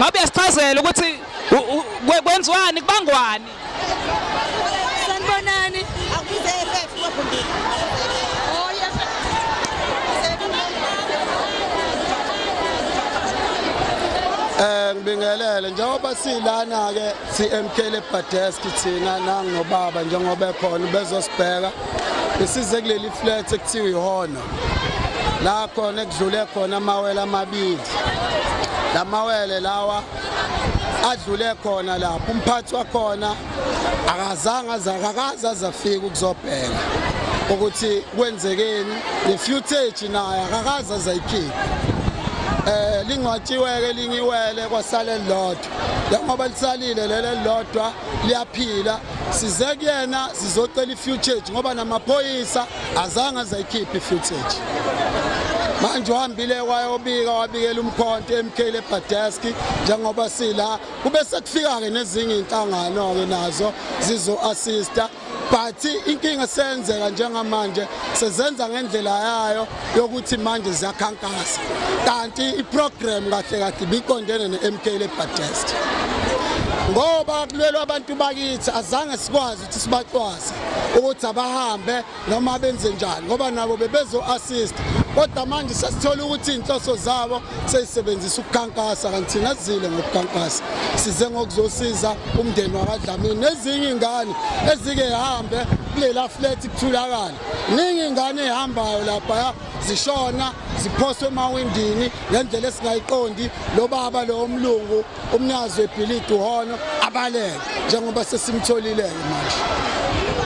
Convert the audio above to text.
ngabe uyasichazela ukuthi kwenziwani kubangwani sanibonani Eh ngibingelele njengoba silana ke siMK le Badesk thina nangobaba njengoba ekhona bezosibheka Besize kuleli flat ekuthiwa ihona la khona ekudlule khona amawele amabili lamawele lawa adlule khona lapho umphathi wakhona akazange azakakaza azafika ukuzobheka ukuthi kwenzekeni the footage naye akakaza azayikhipha eh lingcwatshiwe ke lingiwele kwasale lodwa njengoba lisalile lele lodwa liyaphila size kuyena sizocela i-footage ngoba namaphoyisa azange azayikhiphe i-footage manje uhambile wayobika wabikela umkhonto eMK leBadesk njengoba sila kube sekufika ke nezinye inhlangano ke nazo zizo assista but inkinga seyenzeka njengamanje sezenza ngendlela yayo yokuthi manje ziyakhankasa kanti iprogram kahle kahle biqondene ne-MK lebadest ngoba kulwelwa abantu bakithi azange sikwazi ukuthi sibacwase ukuthi abahambe noma benze njani ngoba nabo bebezo-assist kodwa manje sesithola ukuthi iy'nhloso zabo seyisebenzisa ukukhankasa kanti thina sizile ngokukhankasa size ngokuzosiza umndeni wakadlamini nezinye ingane ezike hambe kulela flat kuthulakala ningi ingane ehambayo lapha zishona ziphoswe emawindini ngendlela esingayiqondi lo baba lo umlungu umnyazi webhilidi uhono abalele njengoba sesimtholile-ke manje